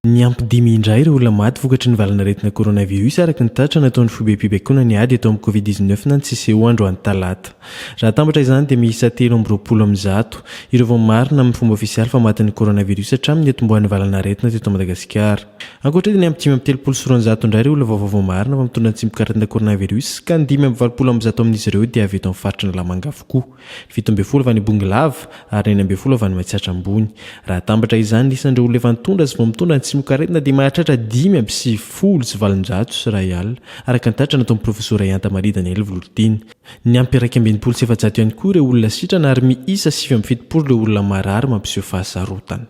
Niampy dimy indray ireo olona maty vokatry ny valanaretina coronavirus araka ny tatitra nataon'ny foibem-pibaikonana ny ady eto amin'ny Covid-19 na ny CCO androany talata. Raha atambatra izany dia miisa telo amby roapolo amin'ny zato ireo vao marina amin'ny fomba ofisialy fa matin'ny coronavirus hatramin'ny niatombohan'ny valanaretina teto Madagasikara. Ankoatra io dia niampy dimy amby telopolo sy roanjato indray ireo olona vaovao vao marina fa mitondra antsimok'aretina coronavirus ka ny dimy amby valopolo amin'ny zato amin'izy ireo dia avy eto amin'ny faritr'Analamanga avokoa. koa. Ny fito ambin'ny folo avy any Bongolava ary ny enina ambin'ny folo avy any Matsiatra Ambony. Raha atambatra izany ny isan'ireo olona efa nitondra sy vao mitondra ny tsimokaretina dia mahatratra dimy amby sivifolo sy valonjato sy iray alina, araka ny tatitra nataon'ny Profesora Ihanta Maria Daniel Vololitiana. Niampy iraika amby enimpolo sy efajato ihany koa ireo olona sitrana ary miisa sivy amby fitopolo ireo olona marary mampiseho fahasarotana.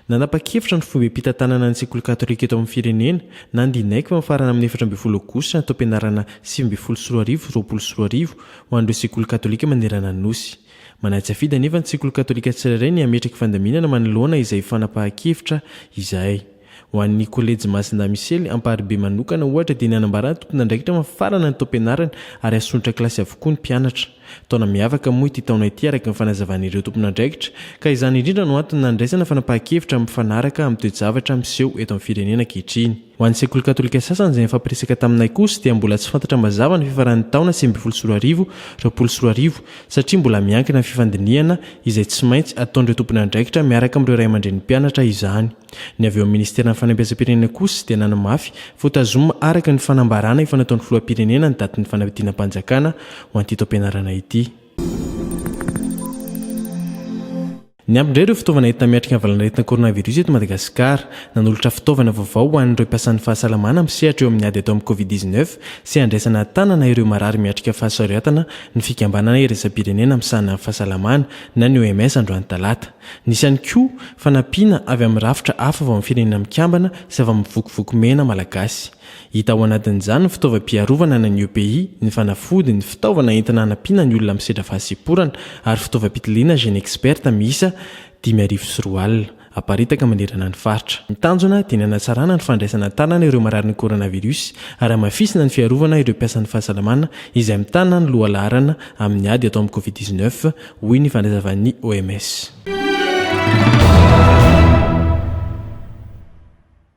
Nanapa-kevitra ny foibem-pitantanana ny sekoly katolika eto amin'ny firenena na ny Dinaiko fa mifarana amin'ny efatra ambin'ny folo aogositra ny taom-pianarana sivy ambin'ny folo sy roa arivo roapolo sy roa arivo ho an'ireo sekoly katolika manerana ny Nosy. Manatsafidy anefa ny sekoly katolika tsirairay ny hametraky fandaminana manoloana izay fanapahan-kevitra izay. Ho an'ny kolejy Masindahy-Misely Amparibe manokana ohatra dia nanambara ny tompon'andraikitra fa mifarana ny taom-pianarana ary asontra kilasy avokoa ny mpianatra. Taona miavaka moa ity taona ity araka ny fanazavan'ireo tompon'andraikitra ka izany indrindra no antony nandraisana fanapahan-kevitra mifanaraka amin'ny toe-javatra miseho eto amin'ny firenena ankehitriny. Ho an'ny sekoly katolika sasany izay nifampiresaka taminay kosa dia mbola tsy fantatra mazava ny fifaran'ny taona sivy ambin'ny folo sy roa arivo, roapolo sy roa arivo satria mbola miankina amin'ny fifandinihana izay tsy maintsy ataon'ireo tompon'andraikitra miaraka amin'ireo ray aman-drenim-pianatra izany. Ny avy eo amin'ny Ministeran'ny Fanabezam-pirenena kosa dia nanamafy fa ho tazomina araka ny fanambarana efa nataon'ny Filoham-pirenena ny datin'ny fanadinam-panjakana ho an'ity taom-pianarana ity. Niampy indray ireo fitaovana entina miatrika ny valan'aretina coronavirus eto Madagasikara. Nanolotra fitaovana vaovao ho an'ireo mpiasan'ny fahasalamana misehatra eo amin'ny ady atao amin'ny Covid dix-neuf sy handraisana an-tanana ireo marary miatrika fahasaroiatana ny fikambanana iraisam-pirenena misahana ny fahasalamana na ny OMS androany talata. Nisy ihany koa fanampiana avy amin'ny rafitra hafa avy amin'ny Firenena Mikambana sy avy amin'ny Vokovoko Mena Malagasy. Hita ao anatin'izany ny fitaovam-piarovana na ny EPI, ny fanafody, ny fitaovana entina hanampiana ny olona misedra fahasemporana ary fitaovam-pitiliana Genexpert miisa dimy arivo sy roa alina, aparitaka manerana ny faritra. Ny tanjona dia ny hanatsarana ny fandraisana an-tanana ireo mararin'ny coronavirus ary hamafisina ny fiarovana ireo mpiasan'ny fahasalamana izay mitana ny lohalaharana amin'ny ady atao amin'ny Covid dix-neuf, hoy ny fandazavan'ny OMS.